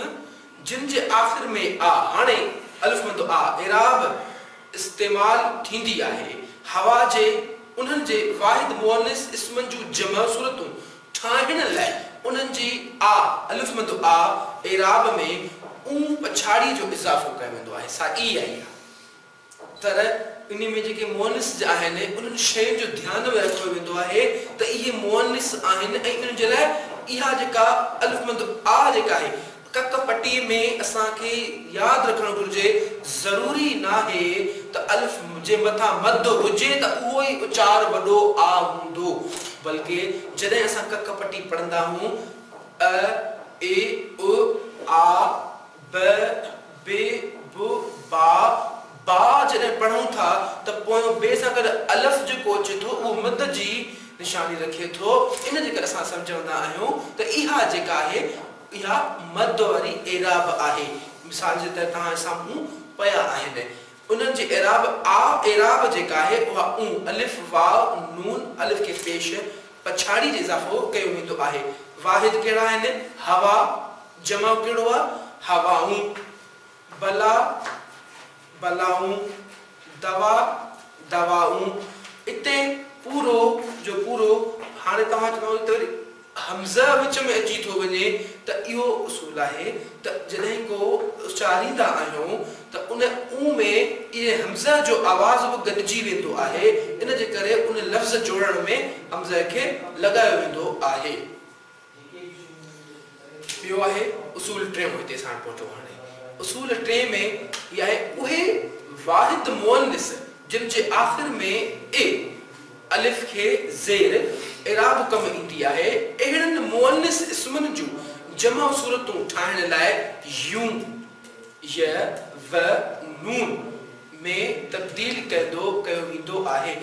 جن جي آخر ۾ آ، هاڻي الف مد آ، اعراب، استعمال ٿيندي آهي. هوا جي انهن جي واحد مؤنث اسمن جون جمع صورتون ٺاهڻ لاء انهن جي آ، الف مد آ، اعراب ۾ اون پڇاڙيء جو اضافو ڪيو ويندو آهي، سا ئي آهي، آ. پر انهي ۾ جيڪي مؤنث جا آهن انهن شين جو ڌيان به رکيو ويندو آهي ته اهي مؤنث آهن ۽ انهن جي لاء اها جيڪا الف مد آ جيڪا آهي ڪڪ پٽي ۾ اسان کي ياد رکڻ گهرجي ضروري ناهي ته الف جي مٿان مد هجي ته اهو ئي اچار وڏو آ هوندو بلڪه جڏهن اسان ڪڪ پٽي پڙهندا آهون ء، اي، اؤ، آ، ب، ب، ب، با، با جڏهن پڙهون ٿا ته پويون ب سان گڏ الف جيڪو اچي ٿو اهو مد جي نشاني رکي ٿو ان جي ڪري اسان سمجهندا آهيون ته اها جيڪا آهي اها مد واري اعراب آهي مثال جي طرح توهان جي سامهون پيا آهن انهن جي اعراب آ اعراب جيڪا آهي اها اون الف واء نون الف کي پيش پڇاڙي جي اضافو ڪيو ويندو آهي واحد ڪهڙا آهن هوا. جمع ڪھڙو آ؟ ھوائون، بلا، بلائون، دوا، دوائون، اتي پورو جو پورو ھاڻي توھان چوندو اتي وري ھمزه وچ ۾ اچي ٿو وڃي ته اھو اصول آھي ته جڏھن ڪو اچاريندا آھيون ته ان او ۾ اھي ھمزه جو آواز به گڏجي ويندو آھي ان جي ڪري ان لفظ جوڙڻ ۾ ھمزه کي لڳايو ويندو آھي. پيو آهي اصول ٽيون هتي ساڻ پهچو هاڻي اصول ٽين ۾ هي آهي اهي واحد مؤنث جن جي آخر ۾ اي الف کي زير اعراب ڪم ايندي آهي اهڙن مؤنث اسمن جون جمع صورتون ٺاهڻ لاء يون، ي، و، نون ۾ تبديل ڪندو ڪيو ويندو آهي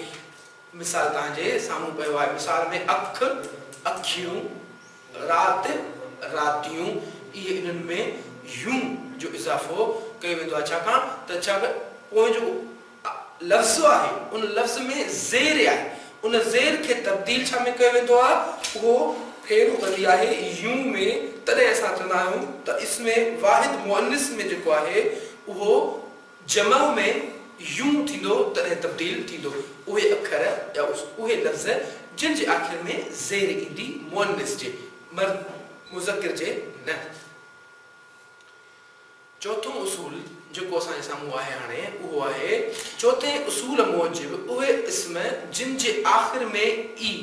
مثال توهان جي سامهون پيو آهي. مثال ۾ اک، اکيون، رات، راتيون، اهي انهن ۾ يون جو اضافو ڪيو ويندو آهي ڇاڪاڻ ته ڇا به پوئين جو ا لفظ آهي ان لفظ ۾ زير آهي ان زير کي تبديل ڇا ۾ ڪيو ويندو آهي اهو ڦيرو ڪندي آهي يون ۾ تڏهن اسان چوندا آهيون ته اسم واحد مؤنث ۾ جيڪو آهي اهو جمع ۾ يون ٿيندو تڏهن تبديل ٿيندو اهي اکر يا اهي لفظ جن جي آخر ۾ زير ايندي مؤنث جي مرد مذڪر جي نه. چوٿون اصول جيڪو اسان جي سامهون آهي هاڻي اهو آهي چوٿين اصول موجب اهي اسم جن جي آخر ۾ ئي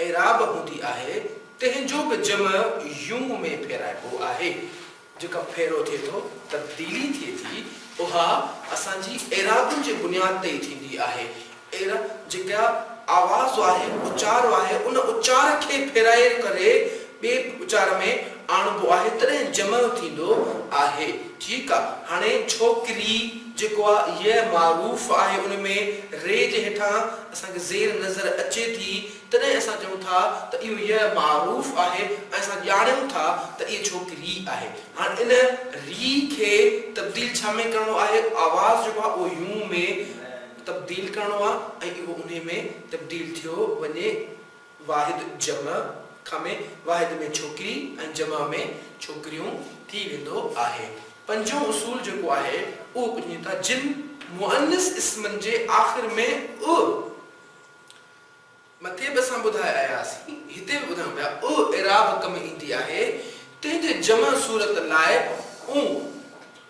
اعراب هوندي آهي تنهن جو به جمع يون ۾ ڦيرائبو آهي. جيڪا ڦيرو ٿئي ٿو، تبديلي ٿئي ٿي، اها اسان جي ايرادن جي بنياد تي ئي ٿيندي آهي. ايرا جيڪا آواز آهي، اچار آهي، ان اچار کي ڦيرائي ڪري ٻئي اچار ۾ آڻبو آهي، تڏهن جمع ٿيندو آهي. ٺيڪ آ، هاڻي ڇوڪري جيڪو آ، يء معروف آهي، ان ۾ ري جي هيٺان اسان کي زير نظر اچي ٿي، تڏهن اسان چئون ٿا ته اهو يء معروف آهي ۽ اسان ڄاڻيون ٿا ته اهي جهوڪ ري آهي. هاڻ ان ري کي تبديل ڇا ۾ ڪرڻو آهي؟ آواز جيڪو آهي اهو يون ۾ تبديل ڪرڻو آهي ۽ اهو انهي ۾ تبديل ٿيو وڃي واحد جمع کان ۾ واحد ۾ ڇوڪري ۽ جمع ۾ ڇوڪريون ٿي ويندو آهي. پنجون اصول جيڪو آهي اهو ٻڌون ٿا جن مؤنث اسمن جي آخر ۾ ء. مٿي به اسان ٻڌائي آياسين، هتي به ٻڌايون پيا، اع اعراب ڪم ايندي آهي، تنهن جي جمع صورت لاء اون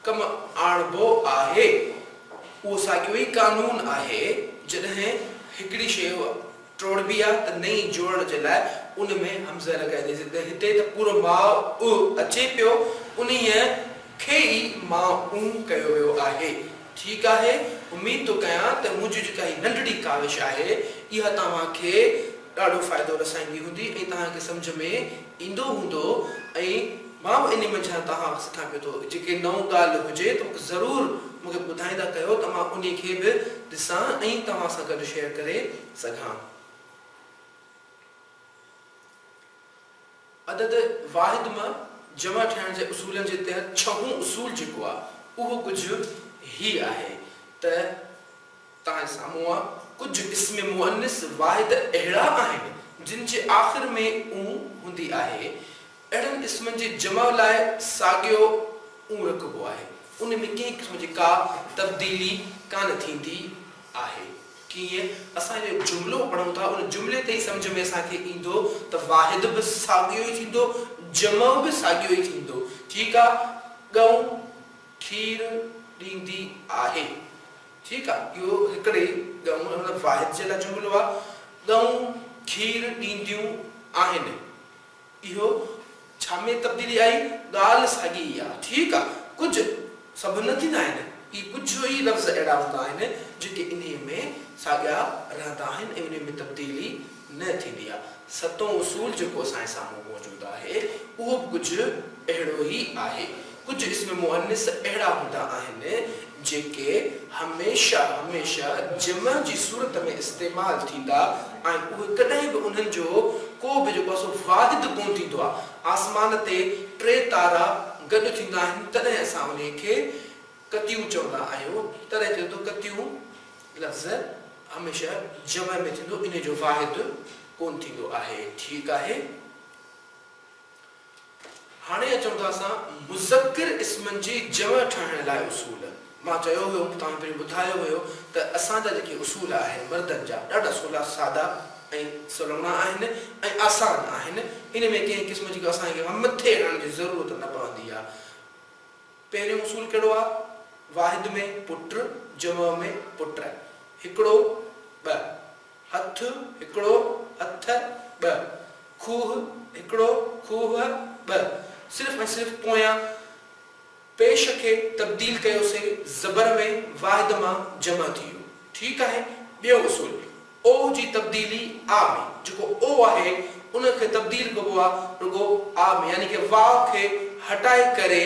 ڪم آڻبو آهي. اهو ساڳيو ئي قانون آهي، جڏهن هڪڙي شيء ٽوڙبي آهي ته نئين جوڙڻ جي لاء ان ۾ همزه لڳائيندي سي ته هتي ته پورو ماء اع اچي پيو، انهيء کي ئي ماء اون ڪيو ويو آهي. ٺيڪ آهي، اميد ٿو ڪيان ته منهنجي جيڪا هي ننڍڙي ڪاوش آهي، اها توهان کي ڏاڍو فائدو رسائيندي هوندي ۽ توهان کي سمجهه ۾ ايندو هوندو ۽ مان به انهي منجهان توهان کي سٿان پيو ٿو جيڪي نئون ڳالهه هجي ته مونکي ضرور مونکي ٻڌائيندا ڪيو ته مان انهي کي به ڏسان ۽ توهان سان گڏ شيئر ڪري سگهان. عدد واحد م جمع ٺهڻ جي اصولن جي تحت ڇهون اصول جيڪو آ اهو ڪجهه هي آهي ته توهان جي سامهون آ ڪجهه اسم مؤنث واحد اهڙا آهن جن جي آخر ۾ اون هوندي آهي اهڙن اسمن جي جمع لاء ساڳيو اون رکبو آهي ان ۾ ڪنهن قسم جي ڪا تبديلي ڪانه ٿيندي آهي. ڪيئن اسان اهو جملو پڙهون ٿا، ان جملي تي ئي سمجهه ۾ اسان کي ايندو ته واحد به ساڳيو ئي ٿيندو، جمع به ساڳيو ئي ٿيندو. ٺيڪ آ، ڳئون کير ڏيندي آهي. ٺيڪ آ، اهو هڪڙي ئي ڳئون ۽ مطلب واحد جي لاء جملو آ، ڳئون کير ڏينديون آهن. اهو ڇا ۾ تبديلي آئي؟ ڳالهه ساڳي ئي آ. ٺيڪ آ، ڪجهه سڀ نه ٿيندا آهن. اهي ڪجهه ئي لفظ اهڙا هوندا آهن، جيڪي انهيء ۾ ساڳيا رهندا آهن ۽ انهيء ۾ تبديلي نه ٿيندي آ. ستون اصول جيڪو اسان جي سامهون موجود آهي، اهو به ڪجهه اهڙو ئي آهي. ڪجهه اسم مؤنث اهڙا هوندا آهن، جيڪي هميشه هميشه جمع جي صورت ۾ استعمال ٿيندا ۽ اهي ڪڏهن به انهن جو ڪو به جيڪو سو واحد ڪونه ٿيندو آهي. آسمان تي ٽي تارا گڏ ٿيندا آهن تڏهن اسان انهي کي ڪتيون چوندا آهيون تڏهن چئجي ٿو ڪتيون لفظ هميشه جمع ۾ ٿيندو انهي جو واحد ڪونه ٿيندو آهي ٺيڪ آهي. هاڻي اچون ٿا اسان مذڪر اسمن جي جمع ٺاهڻ لاء اصول. مان چيو هيو مون توهان پهرين ٻڌايو هيو ته اسان جا جيڪي اصول آهن مردن جا ڏاڍا سولا سادا ۽ سلوڻا آهن ۽ آسان آهن ان ۾ ڪنهن قسم جي ڪو اسان کي ڪا مٿي هڻڻ جي ضرورت نه پوندي آ پهريون اصول ڪهڙو آ واحد ۾ پٽ جمع ۾ پٽ هڪڙو ٻه هٿ هڪڙو هٿ ٻه. کوهه هڪڙو کوهه ٻه. صرف ۽ صرف پويان پيش کي تبديل ڪيو سي زبر ۾ واحد مان جمع ٿي ويو. ٺيڪ آهي. ٻيو اصول، او جي تبديلي آ ۾، جيڪو او آهي ان کي تبديل ڪبو آ رڳو آ ۾، يعني ڪه واء کي هٽائي ڪري،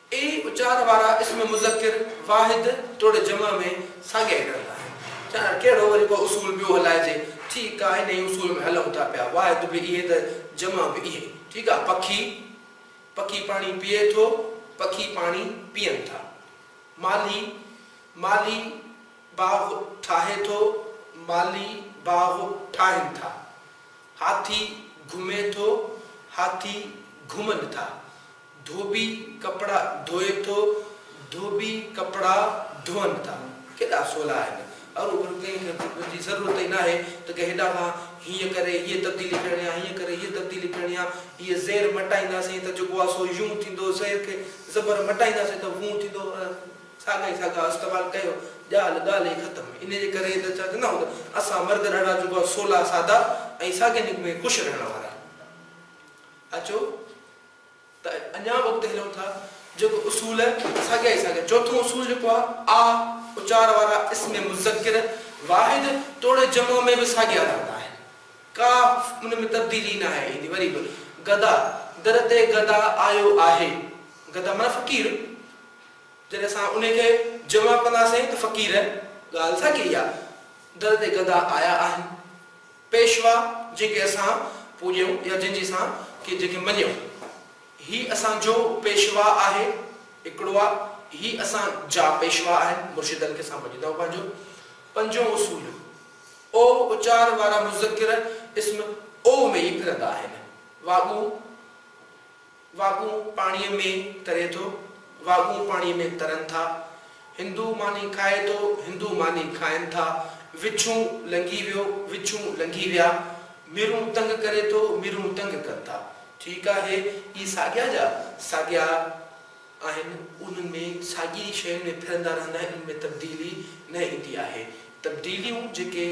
اي اچار وارا اسم مذڪر واحد توڙي جمع ۾ ساڳيا ئي رهندا آهن. ڄاڻ ڪهڙو وري ڪو اصول ٻيو هلائجي. ٺيڪ آ، انهيء اصول ۾ هلون ٿا پيا. واحد به اهي ته جمع به اهي. ٺيڪ آ، پکي، پکي پاڻي پيئي ٿو، پکي پاڻي پيئن ٿا. مالهي، مالهي باغ ٺاهي ٿو، مالهي باغ ٺاهن ٿا. هاٿي گهمي ٿو، هاٿي گهمن ٿا. ڌوٻي ڪپڙا ڌوئي ٿو، ڌوٻي ڪپڙا ڌون ٿا. ڪيڏا سولا آهن. ارو ڀل ڪنهن کي ڌوٻين جي ضرورت ئي ناهي ته ڪنهن هيڏانهن کان هيئن ڪري هيء تبديلي پيڻي آ، هيئن ڪري هيء تبديلي پيڻي آ. هيء زير مٽائينداسين ته جيڪو آ سو يون ٿيندو، زير کي زبر مٽائينداسين ته وون ٿيندو. ساڳا ئي ساڳا استعمال ڪيو، ڳالهه ڳالهه ئي ختم. انهيء جي ڪري ئي ته چون ٿا ته اسان مرد اهڙا جيڪو آ سولا، سادا ۽ ساڳين ۾ خوش رهڻ وارا آهيون. اچو! ته اڃا به اڳتي هلون ٿا جيڪو اصول ساڳيا ئي ساڳيا چوٿون اصول جيڪو آ آ اچار وارا اسم مذڪر واحد توڙي جمع ۾ به ساڳيا رهندا آهن ڪا ان ۾ تبديلي ناهي ايندي وري به گدا در تي گدا آيو آهي گدا معنيٰ فقير جڏهن اسان انهي کي جمع ڪنداسين ته فقير ڳالهه ساڳي ئي آ در تي گدا آيا آهن. پيشوا جنهن کي اسان پوڄيون يا جنهن جي اسان کي جيڪي مڃيون. هي اسان جو پيشوا آهي هڪڙو آ هي اسان جا پيشوا آهن مرشدن کي اسان مڃيندا آهيون پنهنجو پنجون اصول او اچار وارا مذڪر اسم او ۾ ئي ڦرندا آهن واڳون واڳون پاڻيء ۾ تري ٿو، واڳون پاڻيء ۾ ترن ٿا، هندو ماني کائي ٿو، هندو ماني کائن ٿا، وڇون لنگهي ويو، وڇون لنگهي ويا، ميرون تنگ ڪري ٿو، ميرون تنگ ڪن ٿا. ٺيڪ آهي، اهي ساڳيا جا ساڳيا آهن، انهن ۾ ساڳي ئي شين ۾ ڦرندا رهندا آهن، انهن ۾ تبديلي نه ايندي آهي. تبديليون جيڪي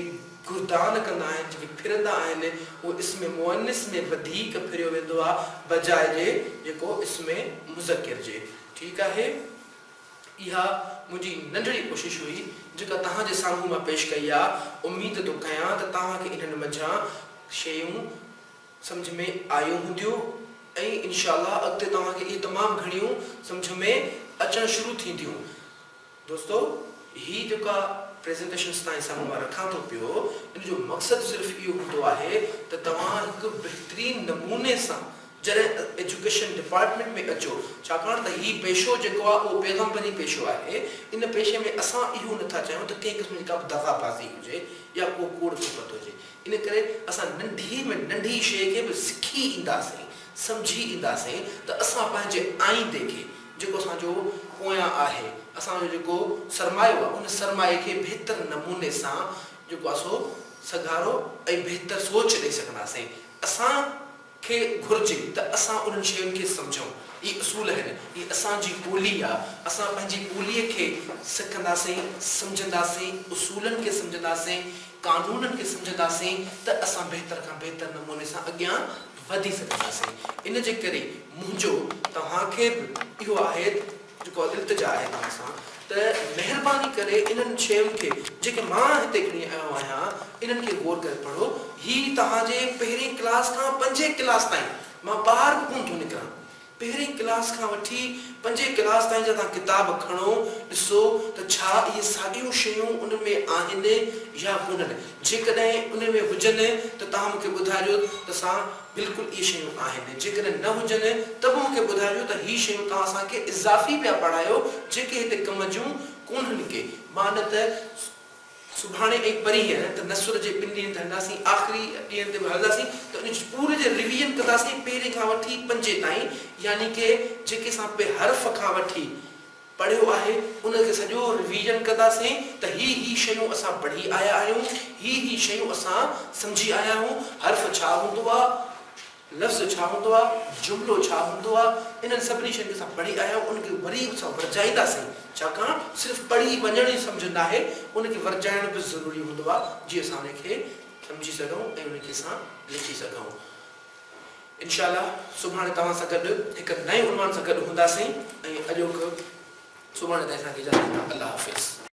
گردان ڪندا آهن، جيڪي ڦرندا آهن، اهو اسم مؤنث ۾ وڌيڪ ڦريو ويندو آهي بجاء جي جيڪو اسم مذڪر جي. ٺيڪ آهي. اها منهنجي ننڍڙي ڪوشش هئي جيڪا توهان جي سامهون مان پيش ڪئي آهي. اميد ٿو ڪيان ته توهان کي انهن منجهان شيون سمجهه ۾ آيون هونديون ۽ انشاء الله اڳتي توهان کي اهي تمام گهڻيون سمجهه ۾ اچڻ شروع ٿينديون. دوستو هي جيڪا پريزنٽيشنس تائين سان مان رکان ٿو پيو ان جو مقصد صرف اهو هوندو آهي ته توهان هڪ بهترين نموني سان جڏهن ايجوڪيشن ڊپارٽمينٽ ۾ اچو ڇاڪاڻ ته هي پيشو جيڪو آهي اهو پيغمبري پيشو آهي ان پيشي ۾ اسان اهو نه ٿا چاهيون ته ڪنهن قسم جي ڪابه دغا بازي هجي يا ڪو ڪوڙ ڪپت هجي ان ڪري اسان ننڍي ۾ ننڍي شيء کي به سکي اينداسين سمجهي اينداسين ته اسان پنهنجي آئيندي کي جيڪو اسان جو پويان آهي، اسان جو جيڪو سرمايو آهي، ان سرمايي کي بهتر نموني سان جيڪو آهي سو سگهارو ۽ بهتر سوچ ڏئي سگهنداسين. اسان کي گهرجي ته اسان انهن شين کي سمجهون. اهي اصول آهن، هي اسان جي ٻولي آهي، اسان پنهنجي ٻولي کي سکنداسين، سمجهنداسين، اصولن کي سمجهنداسين، قانونن کي سمجهنداسين ته اسان بهتر کان بهتر نموني سان اڳيان. وڌي سگهنداسين ان جي ڪري منهنجو توهان کي به اهو آهي جيڪو التجا آهي توهان سان ته مهرباني ڪري انهن شين کي جيڪي مان هتي کڻي آيو آهيان انهن کي غور ڪري پڙهو هي توهان جي پهرين ڪلاس کان پنجين ڪلاس تائين مان ٻاهر به ڪونه ٿو نڪران پهرين ڪلاس کان وٺي پنجين ڪلاس تائين جا توهان ڪتاب کڻو، ڏسو ته ڇا اهي ساڳيون شيون ان ۾ آهن يا ڪونهن. جيڪڏهن ان ۾ هجن ته توهان مون کي ٻڌائجو ته سان بلڪل اهي شيون آهن. جيڪڏهن نه هجن ته به مون کي ٻڌائجو ته هي شيون توهان اسان کي اضافي پيا پڙهايو جيڪي هتي ڪم جون ڪونهن ڪي. مان نه ته. سڀاڻي ۽ پرينهن ته نسور جي ٻن ڏينهن تي هلنداسين، آخري ڏينهن تي به هلنداسين ته ان جي پوري جي ريويزن ڪنداسين پهرين کان وٺي پنجين تائين يعني ڪي جيڪي اسان پي حرف کان وٺي پڙهيو آهي ان کي سڄو ريويزن ڪنداسين ته هي هي شيون اسان پڙهي آيا آهيون هي هي شيون اسان سمجهي آيا آهيون حرف ڇا هوندو آ. لفظ ڇا هوندو آهي، جملو ڇا هوندو آهي، انهن سڀني شين کي اسان پڙهي آيا آهيون، ان کي وري اسان ورجائينداسين، ڇاڪاڻ صرف پڙهي وڃڻ ئي سمجهه ناهي، ان کي ورجائڻ به ضروري هوندو آهي، جيئن اسان ان کي سمجهي سگهون ۽ ان کي اسان لکي سگهون. انشاء الله سڀاڻي توهان سان گڏ هڪ نئين عنوان سان گڏ هونداسين ۽ اڄوڪ سڀاڻي تائين اسان کي اجازت ڏيو. الله حافظ.